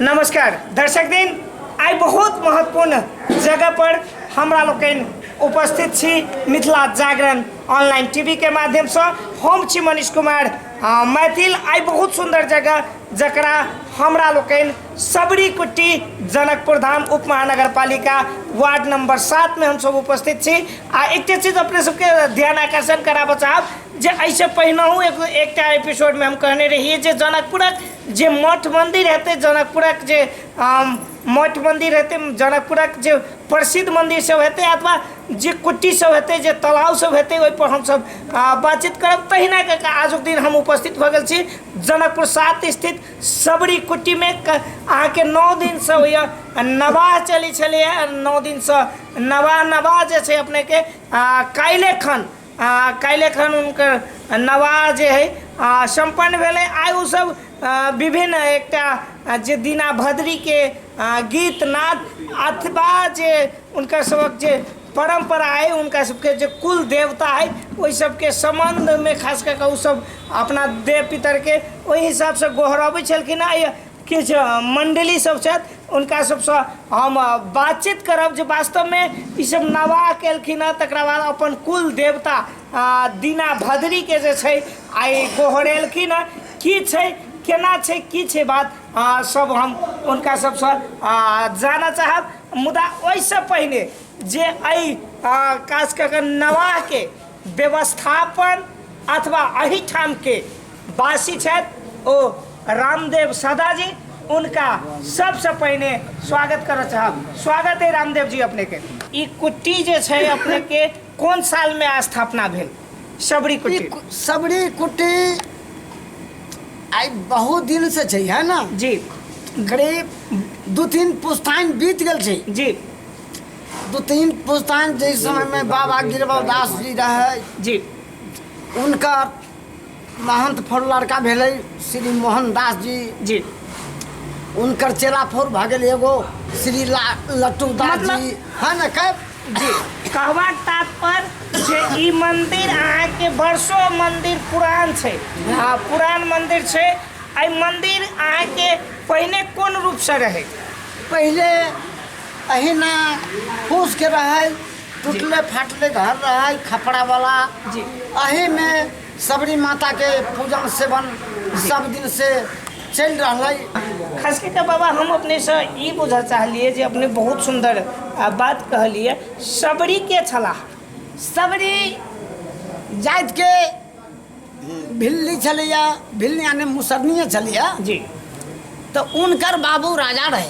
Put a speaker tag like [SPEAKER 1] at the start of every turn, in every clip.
[SPEAKER 1] नमस्कार दर्शक दिन आइ बहुत महत्वपूर्ण जगह पर हमरा लोकनि उपस्थित छी मिथिला जागरण ऑनलाइन टीवी के माध्यम से हम छी मनीष कुमार आ, मैथिल आइ बहुत सुंदर जगह जकरा हमरा लोकनि सबरी कुट्टी जनकपुर धाम उप महानगर पालिका वार्ड नंबर सात में हम सब उपस्थित छी आ एकटा चीज अपने सबके ध्यान आकर्षण कराबऽ चाहब जे एहिसँ पहिनहु एक एकटा एपिसोडमे हम कहने रहियै जे जनकपुरक जे मठ मन्दिर हेतै जनकपुरक जे मठ मन्दिर हेतै जनकपुरक जे प्रसिद्ध मन्दिर सब हेतै अथवा जे कुट्टी सब हेतै जे तालाब सब हेतै ओहिपर हमसब बातचीत करब तहिना कऽ कऽ आजुक दिन हम उपस्थित भऽ गेल छी जनकपुर सात स्थित सबरी कुट्टीमे अहाँके नओ दिनसँ होइए नवाह चलै छलैए नओ दिनसँ नवाह नवाह जे छै अपनेके काल्हिखन आ काल्हि एखन हुनकर नवाह जे हइ सम्पन्न भेलै आइ ओसभ विभिन्न एकटा जे दीना भद्रीके गीत नाद अथवा जे हुनकर सभक जे परम्परा हइ हुनका सभके जे कुल देवता हइ ओहि सभके सम्बन्धमे खास कऽ कऽ ओसभ अपना देव पितरके ओहि हिसाबसँ गोहरबै छलखिन हेँ किछु मण्डली सब छथि हुनका सबसँ हम बातचीत करब जे वास्तवमे ई सब नवाह केलखिन हँ तकरा बाद अपन कुल देवता दीना भद्रीके जे छै आइ गोहरेलखिन हँ की छै केना छै की छै बात सब हम हुनका सबसँ जानऽ चाहब मुदा ओइसँ पहिने जे अइ खास कऽ कऽ नवाहके व्यवस्थापन अथवा अहिठाम के वासी छथि ओ रामदेव सदा जी उनका सबसे पहिने स्वागत करऽ चाहब स्वागत है रामदेव जी अपने के ई कुट्टी जे छै अपने के कोन साल में स्थापना भेल सबरी ई कुट्टी कु- सबरी कुट्टी
[SPEAKER 2] आई बहुत दिन से छै है ना जी
[SPEAKER 1] करीब
[SPEAKER 2] दू तीन पुस्तान बीत गेल छै जी
[SPEAKER 1] दू
[SPEAKER 2] तीन पुस्तान जाहि समयमे बाबा गिरबल दास जी रहै जी
[SPEAKER 1] हुनकर
[SPEAKER 2] महंत फौर लड़का भेलै श्री मोहन दास जी जी
[SPEAKER 1] हुनकर
[SPEAKER 2] चेला फौर भऽ गेल एगो श्री ला लट्टू दास मतलब- जी है ने कह जी
[SPEAKER 1] कहबाक तात्पर्य जे ई मंदिर अहाँके वर्षो मंदिर पुरान छै हँ पुरान मंदिर छै एहि मंदिर अहाँके पहिने कोन रूपसँ रहै पहिले
[SPEAKER 2] अहिना फूस के रहे टूटले फाटले घर रहे खपड़ा वाला जी अही
[SPEAKER 1] में
[SPEAKER 2] सबरी माता के पूजन सेवन सब दिन से चल रहा खास करके बाबा हम
[SPEAKER 1] अपने से ई बुझल चाहलिए जे अपने बहुत सुंदर आ, बात कहलिए सबरी के छलाह सबरी
[SPEAKER 2] जात के भिल्ली छलैया भिल्ली यानी मुसरनिए छलैया जी
[SPEAKER 1] तो
[SPEAKER 2] उनकर बाबू राजा रहे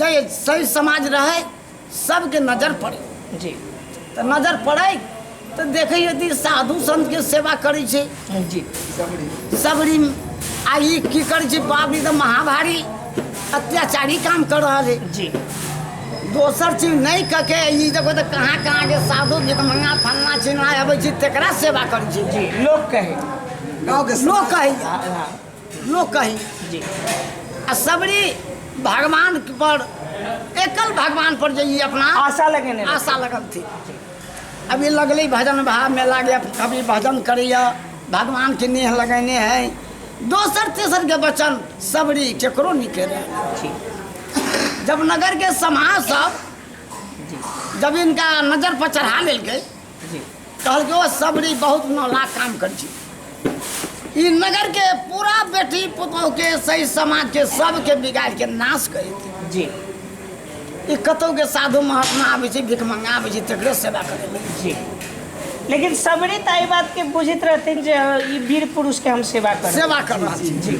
[SPEAKER 2] जे सही समाज रहै सबके नजर पड़े जी तऽ
[SPEAKER 1] नजर
[SPEAKER 2] पड़ै तऽ देखै यदि साधु संतके सेवा करै छै जी
[SPEAKER 1] सबरी
[SPEAKER 2] आ ई की करै छै बाप रे तऽ महाभारी अत्याचारी काम कर रहल है जी
[SPEAKER 1] दोसर
[SPEAKER 2] चीज नहि कऽ के ई देखो तऽ कहाँ कहाँ के साधु भिकमंगा फलना चिन्हा अबै छै तेकरा सेवा करै छै जी लोक कहे
[SPEAKER 1] गाँव के
[SPEAKER 2] लोक कहैया लोक कही जी
[SPEAKER 1] आ
[SPEAKER 2] सबरी भगवान पर एकल भगवान पर जे ई अपना आशा लगेने रहै। आशा
[SPEAKER 1] लगल थी
[SPEAKER 2] अभी लगले भजन भा में लागे कभी भजन करैया भगवान के नेह लगेने है दोसर तेसर के वचन सबरी केकरो निकले जी जब नगर के समाज सब जी जब इनका नजर पर चढ़ा लेलकै कहलकै ओ सबरी बहुत नौला काम कर छी ई नगर के पूरा बेटी पुतोह के सही समाज के सबके बिगाड़ के नाश कर देते जी
[SPEAKER 1] ई
[SPEAKER 2] कतौ के साधु महात्मा आबै छै भिख मंगा आबै छै तकरे सेवा करे ले। जी
[SPEAKER 1] लेकिन सबरी तऽ एहि बात के बुझैत रहथिन जे हँ, ई वीर पुरुष के हम सेवा करब सेवा कर रहल छी जी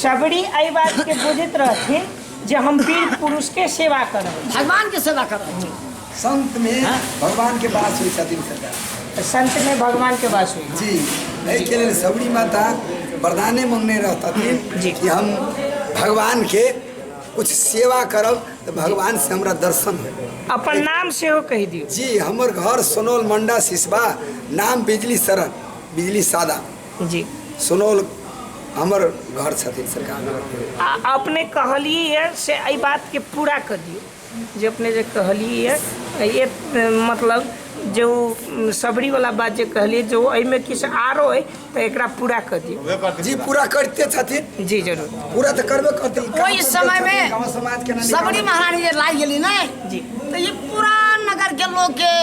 [SPEAKER 1] सबरी एहि बात के बुझैत रहथिन जे हम वीर पुरुष के सेवा करब भगवान के सेवा कर रहल
[SPEAKER 2] छी संत में हाँ?
[SPEAKER 3] भगवान के वास हुई छथिन सदा तो संत में भगवान
[SPEAKER 1] के वास हुई जी एहि के
[SPEAKER 3] लेल सबरी माता वरदाने मंगने रहतथिन जी। कि हम भगवान के कुछ सेवा करब तो भगवान से हमरा दर्शन होय अपन नाम से हो
[SPEAKER 1] कह दियो जी हमर घर
[SPEAKER 3] सोनौल मंडा सिसवा नाम बिजली शरण बिजली सादा जी
[SPEAKER 1] सोनौल
[SPEAKER 3] हमर घर छथिन सरकार नगर आ अपने कहलिए
[SPEAKER 1] से एहि बात के पूरा कर दियो जे अपने जे कहलियै यऽ मतलब जे ओ शबरी वाला बात जे कहलियै जे एहिमे किछु आरो अइ तऽ एकरा पूरा कऽ दियौ जी पूरा करते
[SPEAKER 3] छथिन जी जरूर पूरा
[SPEAKER 1] तऽ करबे करते
[SPEAKER 3] ओहि समय मे
[SPEAKER 2] शबरी
[SPEAKER 3] महारानी जे लागि
[SPEAKER 2] गेली ने जी तऽ ई
[SPEAKER 1] पूरा
[SPEAKER 2] नगर के लोग के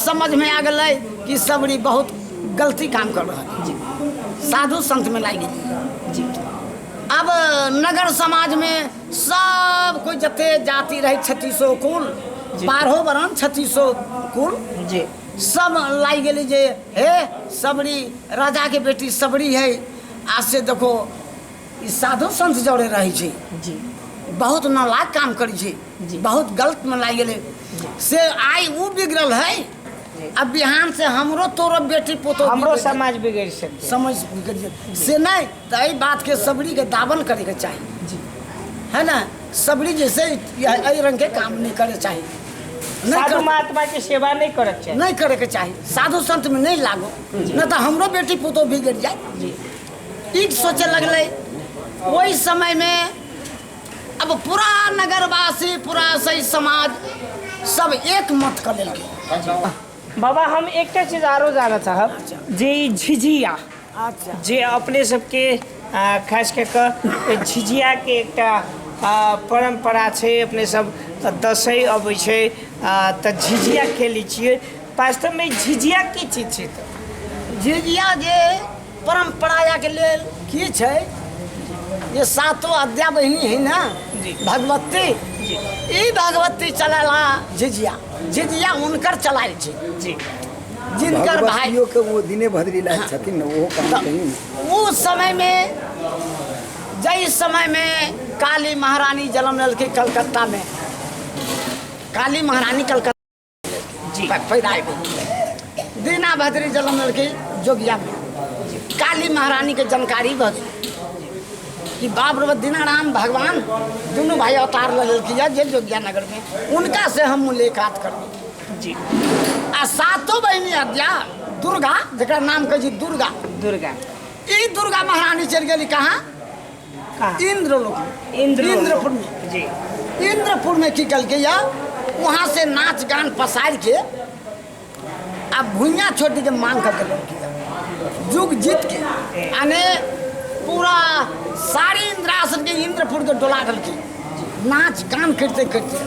[SPEAKER 2] समझ में आ गए कि शबरी बहुत गलती काम कर रहा है जी साधु संत में लाग गेली जी
[SPEAKER 1] अब
[SPEAKER 2] नगर समाज में सब कोई जते जाति रहे छत्तीसो कुल बारहो वरण छत्तीसो कुल जी
[SPEAKER 1] सब लाग
[SPEAKER 2] गेली जे हे सबरी राजा के बेटी सबरी है आज से देखो ई साधु संत जौरे रहे छी जी
[SPEAKER 1] बहुत
[SPEAKER 2] नालायक काम करी छी जी। बहुत गलत
[SPEAKER 1] में लाग
[SPEAKER 2] गेले से आइ ऊ बिगड़ल है जी। अब बिहान से हमरो तोरो बेटी पोतो हमरो बिगड़- समाज बिगड़
[SPEAKER 1] सकते समझ बिगड़ जाए।
[SPEAKER 2] से नहीं तो यही बात के सबरी के दावन करे के चाहिए जी है
[SPEAKER 1] ना
[SPEAKER 2] सबरी जैसे यह- एहि रंग के काम नहीं करे चाहिए नहीं साधु कर- महात्मा के
[SPEAKER 1] सेवा
[SPEAKER 2] नहीं
[SPEAKER 1] करक चाहिए नहीं करे के चाहिए साधु
[SPEAKER 2] संत में नहीं लागो न तो हमरो बेटी पुतो बिगड़ जाए जी
[SPEAKER 1] ई
[SPEAKER 2] सोचे लगले ओहि समय में अब पूरा नगरवासी पूरा सही समाज सब एक मत कर लेलके बाबा हम
[SPEAKER 1] एकटा चीज आरो जानऽ चाहब जे ई झिझिया अच्छा जे
[SPEAKER 2] अपने सबके
[SPEAKER 1] आ, खास कऽ कऽ झिझियाके एकटा आ, परम्परा छै अपने सब तऽ दसैँ अबै छै आ, तऽ झिझिया खेलै छियै वास्तवमे झिझिया की चीज छै तऽ? झिझिया जे
[SPEAKER 2] परम्पराके लेल की छै जे सातो अद्या बहिनी है ना जी। भगवती जी।
[SPEAKER 1] ई भगवती
[SPEAKER 2] चलेला झिझिया झिझिया हुनकर चलाइ छै जी
[SPEAKER 1] जिनकर
[SPEAKER 2] भाई भगवतियो के वो दिने भद्री
[SPEAKER 3] लायक छथिन ने ओहो कहाँ कहीं उस समय में
[SPEAKER 2] जय समय में काली महारानी जन्म लेलके कलकत्ता में काली महारानी कलकत्ता जी पैदा
[SPEAKER 1] भेल
[SPEAKER 2] दीना भद्री जन्म लेलके जोगिया में काली महारानी के जानकारी भऽ गेल कि बाप रे बाप दीनाराम भगवान दुनू भाई अवतार लऽ लेलखिन जे जोगिया नगर में उनका से हम मुलाकात करबी जी
[SPEAKER 1] आ सातो
[SPEAKER 2] बहिनी हत्या दुर्गा जकरा नाम कहै छी दुर्गा दुर्गा
[SPEAKER 1] ई दुर्गा
[SPEAKER 2] महारानी चलि गेली कहाँ कहाँ
[SPEAKER 1] इंद्र लोक में।
[SPEAKER 2] इंद्र इंद्रपुर में जी
[SPEAKER 1] इंद्रपुर में
[SPEAKER 2] की कल के या वहाँ से नाच गान पसार के आ भुइया छोटी के मांग कर देलक के या। युग जीत के यानी पूरा सारी इंद्रासन के इंद्रपुर के डोला देलके नाच गान करते करते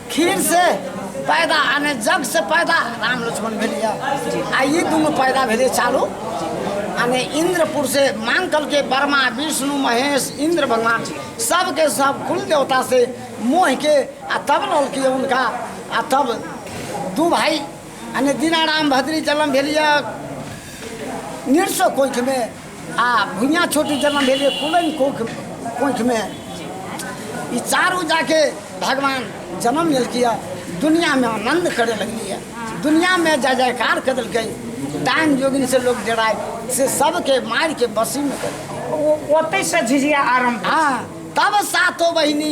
[SPEAKER 2] खीर से पैदा आने जग से पैदा राम लक्ष्मण भेलिए आ ई दुनू पैदा भेलै चालू आने इंद्रपुर से मांग कल के वर्मा विष्णु महेश इंद्र भगवान सबके सब कुल देवता से मोह के आ तब लौलके उनका आ तब दू भाई यानी दीनाराम भद्री जन्म भेलिए नृत्य कोइठमे आ भुइयाँ छोटी जन्म भेल यऽ कुलैन कोख कोखिमे ई चारू जाके भगवान जन्म लेलकै यऽ दुनियामे आनन्द करे लगलै यऽ दुनियामे जय जयकार कर देलकै डाइन जोगिन से लोग डराय से सबके मारि के बसीमे कर ओ- ओतै से झिझिया
[SPEAKER 1] आरम्भ हँ तब
[SPEAKER 2] सातो बहिनी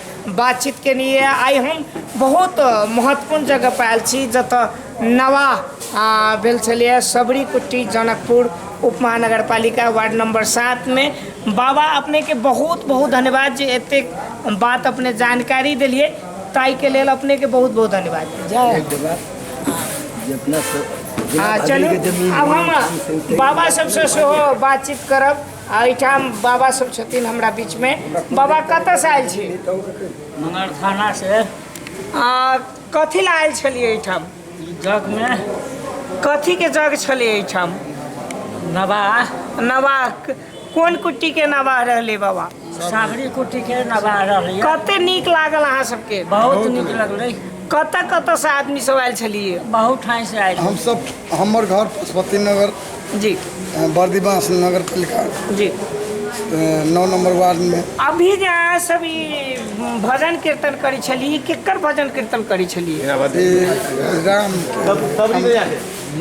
[SPEAKER 1] बातचीत केने यऽ आइ हम बहुत महत्वपूर्ण जगह पर आयल छी जतऽ नवा आ, भेल छलैए सबरी कुट्टी जनकपुर उपमहानगर पालिका वार्ड नंबर सात में बाबा अपने के बहुत बहुत धन्यवाद जे एते बात अपने जानकारी दिलिए ताई के लेल अपने के बहुत बहुत धन्यवाद जय जितना स- जितना आ, आदमी चलू के जमीन अब हम बाबा सबसँ सेहो बातचीत करब आ एहिठाम बाबा सब छथिन हमरा बीचमे बाबा कतऽसँ आयल छी मगर
[SPEAKER 4] थाना से
[SPEAKER 1] आ कथी लए आयल छलियै एहिठाम जग
[SPEAKER 4] में कथीके
[SPEAKER 1] जग छलै एहिठाम नवाह
[SPEAKER 4] नवाह
[SPEAKER 1] कोन कुट्टीके नवाह रहलै बाबा साबरी कुटी
[SPEAKER 4] के नवाह रही कते नीक लागल
[SPEAKER 1] अहाँ सबके बहुत नीक लगलै
[SPEAKER 4] कतऽ कतऽसँ
[SPEAKER 1] आदमी सब आयल छलियै बहुत ठाई से आयल
[SPEAKER 4] हम सब हमर
[SPEAKER 5] घर पशुपति नगर जी
[SPEAKER 1] बर्दिवास
[SPEAKER 5] नगर पालिका जी नौ नंबर वार्ड में अभी जे अहाँ सब
[SPEAKER 1] ई भजन कीर्तन करै छलियै केकर भजन कीर्तन करै छलियै ई
[SPEAKER 5] राम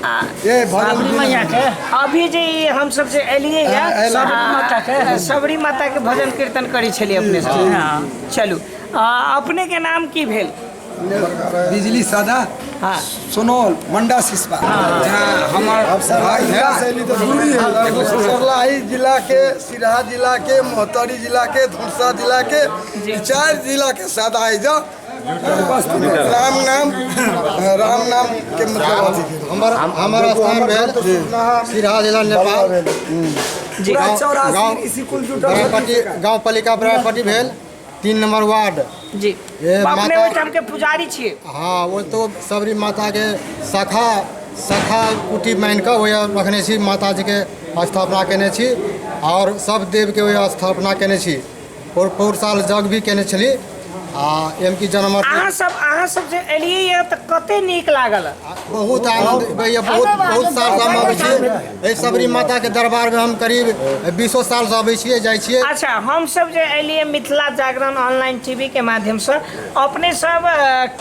[SPEAKER 5] आ, ये भजन
[SPEAKER 4] अभी जे ई
[SPEAKER 1] हम सब जे एलियै हाँ, है एलियै। सबरी माता के सबरी माता के भजन कीर्तन करै छलियै अपने सब चलू आ, अपने के नाम की भेल बिजली
[SPEAKER 3] सदा हाँ
[SPEAKER 1] सुनौल
[SPEAKER 3] मंडा सिसवा जहाँ हमार भाई
[SPEAKER 5] है जिला के सिरहा जिला के मोहतरी जिला के धुरसा जिला के चार जिला के साथ आए जाओ राम नाम राम नाम के मतलब हमारा हमारा
[SPEAKER 6] स्थान भेल सिरहा जिला नेपाल जी
[SPEAKER 1] गाँव गाँव बरापट्टी
[SPEAKER 6] गाँव पालिका बरापट्टी भेल तीन नंबर वार्ड जी ए, अपने
[SPEAKER 1] माता- ओहिठाम
[SPEAKER 6] के
[SPEAKER 1] पुजारी
[SPEAKER 6] छियै
[SPEAKER 1] हाँ वो तो
[SPEAKER 6] सबरी माता के शाखा शाखा कुटी मानि कऽ ओहि रखने छी माता जी के स्थापना केने छी और सब देव के ओहि स्थापना केने छी और पौर साल जग भी केने छली आ एम की जन्म अहाँ सब अहाँ सब
[SPEAKER 1] जे एलियै यऽ तऽ कते नीक लागल बहुत आनंद
[SPEAKER 6] होइए बहुत बहुत सालसँ हम अबै छियै एहि सबरी माताके दरबारमे हम करीब बीसो सालसँ अबै छियै जाइ छियै अच्छा हम सब जे
[SPEAKER 1] एलियै मिथिला जागरण ऑनलाइन टीवी के माध्यम से अपने सब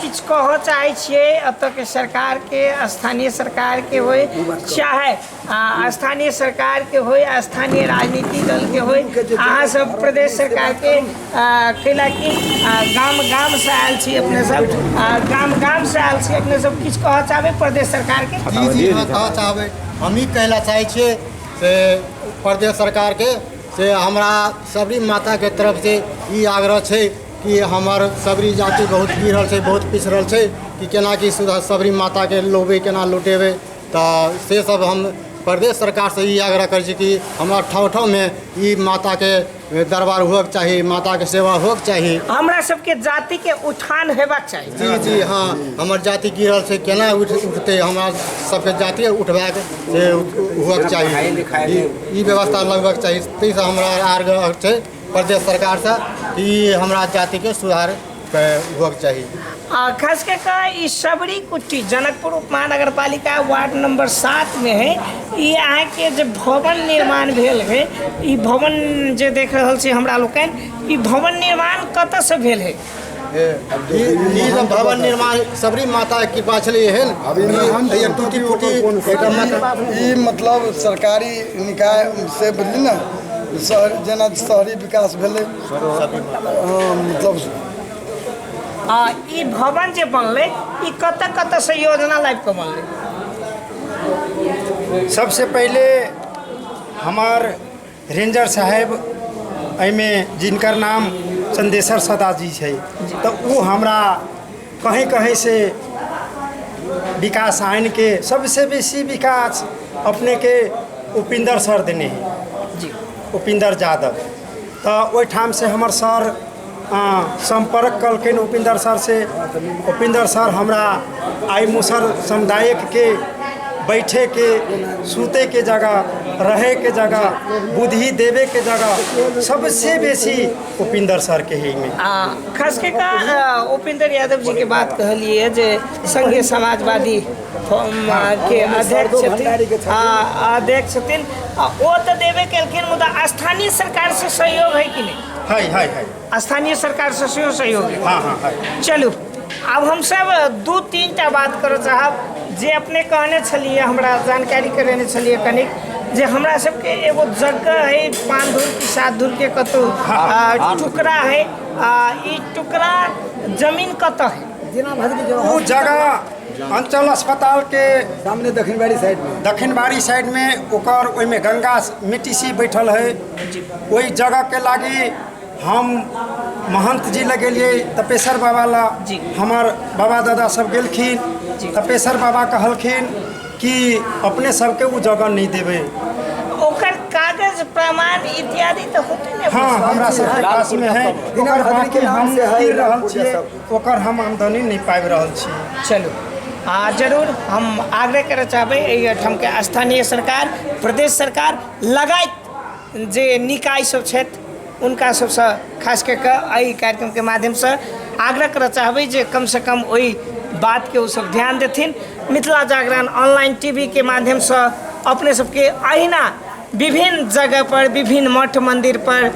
[SPEAKER 1] किछ कह चाहे छियै एतऽ के सरकार के स्थानीय सरकार के होय चाहे आ स्थानीय सरकारके होइ आ स्थानीय राजनीति दलके होइ अहाँ सब प्रदेश सरकारके कैलाकि गाम गामसँ आयल छी अपने सब गाम गामसँ आयल छी अपने सब किछु कहऽ चाहबै प्रदेश सरकारके जी जी अहाँ कहऽ चाहबै
[SPEAKER 6] हम ई कहै लए चाहै छियै से प्रदेश सरकारके से हमरा सबरी माताके तरफसँ ई आग्रह छै कि हमर सबरी जाति बहुत गिरल छै बहुत पिछड़ल छै कि केना कि सबरी माताके लोबै केना लुटेबै तऽ से सब हम प्रदेश सरकार से ई आग्रह करै छी कि हमरा ठाँव ठाँव मे ई माता के दरबार हुअक चाही माता के सेवा हुअक चाही हमरा सबके जाति
[SPEAKER 1] के उत्थान हेबाक चाही जी जी हँ
[SPEAKER 6] हमर जाति गिरल छै केना उठ उठतै हमरा सबके जाति उठबाक से हुअक चाही ई- ई व्यवस्था लगबक चाही ताहिसँ हमरा आग्रह छै प्रदेश सरकारसँ कि हमरा जातिके सुधार के हुअक चाही आ खास कऽ कऽ
[SPEAKER 1] ई शबरी कुट्टी जनकपुर उपमहानगर पालिका वार्ड नंबर सातमे है ई अहाँके जे भवन निर्माण भेल है ई भवन जे देख रहल छी हमरा लोकनि ई भवन निर्माण कतऽसँ भेल है ई
[SPEAKER 6] ई जे भवन निर्माण सबरी माता के कृपा छलै एहन ई एक टूटी फूटी एकटा मकान
[SPEAKER 5] ई मतलब सरकारी निकाय से बुझली ने शहर जेना शहरी विकास भेलै आ
[SPEAKER 1] ई भवन जे बनलै ई कतऽ कतऽ से योजना लाइब कऽ बनलै
[SPEAKER 7] सबसे पहिले हमार रेंजर साहेब एहिमे जिनकर नाम चंदेश्वर सदा जी छै तऽ ओ हमरा कहीं कहीं से विकास आनि के सबसे बेसी विकास अपने के उपिंदर सर देने है जी उपिंदर
[SPEAKER 1] यादव
[SPEAKER 7] तऽ ओहिठाम से हमर सर सम्पर्क कलखिन उपिंदर सर से उपिंदर सर हमरा आई मुसर समुदायक के बैठे के सूते के जगह रहे के जगह बुद्धि देवे के जगह सबसे बेसी उपिंदर सर के ही में आ खास कऽ कऽ
[SPEAKER 1] आ, उपेंद्र यादव जी के बात कहलियै जे संघीय समाजवादी हम के अध्यक्ष छथिन आ अध्यक्ष छथिन आ ओ तऽ देबे केलखिन मुदा स्थानीय सरकार से सहयोग है कि नहीं है है है स्थानीय
[SPEAKER 7] सरकार से सेहो
[SPEAKER 1] सहयोग है हाँ हाँ है चलू आब हमसब दू तीन टा बात करऽ चाहब जे अपने कहने छलियै हमरा जानकारी करेने छलियै कनिक जे हमरा सबके एगो जगह है पाँच धूर कि सात धूर के कतौ आ, टुकड़ा है आ ई टुकड़ा जमीन कतऽ है
[SPEAKER 7] ओ
[SPEAKER 1] जगह
[SPEAKER 7] अंचल अस्पताल के सामने दक्षिण बाड़ी
[SPEAKER 3] साइड में दक्षिण बाड़ी साइड में
[SPEAKER 7] ओकर ओहिमे गंगा मिट्टी सी बैठल है ओहि जगह के लागी हम महंत जी लग गेलिए तपेश्वर बाबा ला हमार
[SPEAKER 1] बाबा
[SPEAKER 7] दादा सब गेलखिन तपेश्वर बाबा कहलखिन कि अपने सबके वो जगह नहीं देवे ओकर
[SPEAKER 1] कागज प्रमाण इत्यादि तो होते ने हाँ हमरा सबके
[SPEAKER 7] पास में है ओकर बाकी हम गिर रहल छियै ओकर हम आमदनी नहि पाबि रहल छी चलू आ
[SPEAKER 1] जरूर हम आग्रह करय चाहबै एहि एहिठामके स्थानीय सरकार प्रदेश सरकार लगायत जे निकाय सब छथि हुनका सबसँ खास कऽ कऽ एहि कार्यक्रमके माध्यमसँ आग्रह करय चाहबै जे कमसँ कम ओहि बातके ओसब ध्यान देथिन Mithila Jagran online T V के माध्यमसँ अपने सबके अहिना विभिन्न जगहपर विभिन्न मठ मन्दिरपर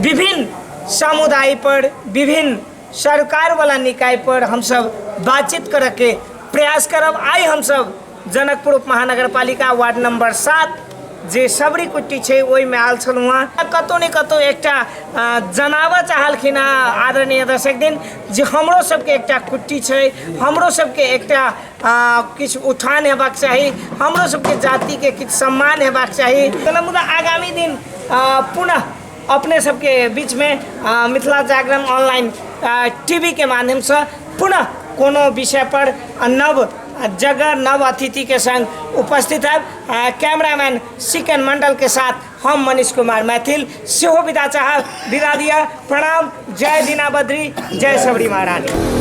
[SPEAKER 1] विभिन्न समुदायपर विभिन्न सरकारवला निकायपर हमसभ बातचीत करऽके प्रयास करब आइ हमसभ जनकपुर उपमहानगरपालिका वार्ड नम्बर सात जे सबरी कुट्टी छै ओहिमे आयल छलहुँ हँ कतहु ने कतहु एकटा जनाबऽ चाहलखिन हँ आदरणीय दर्शक दिन जे हमरो सबके एकटा कुट्टी छै हमरो सबके एकटा किछु उत्थान हेबाक चाही हमरो सबके जातिके किछु सम्मान हेबाक चाही मुदा आगामी दिन पुनः अपने सबके बीचमे मिथिला जागरण ऑनलाइन टीवीके माध्यमसँ पुनः कोनो विषय पर नव जगह नव अतिथि के संग उपस्थित है कैमरामैन सिकन मंडल के साथ हम मनीष कुमार मैथिल सेहो विदा चाह विदा दिया प्रणाम जय दीना बद्री जय सबरी महारानी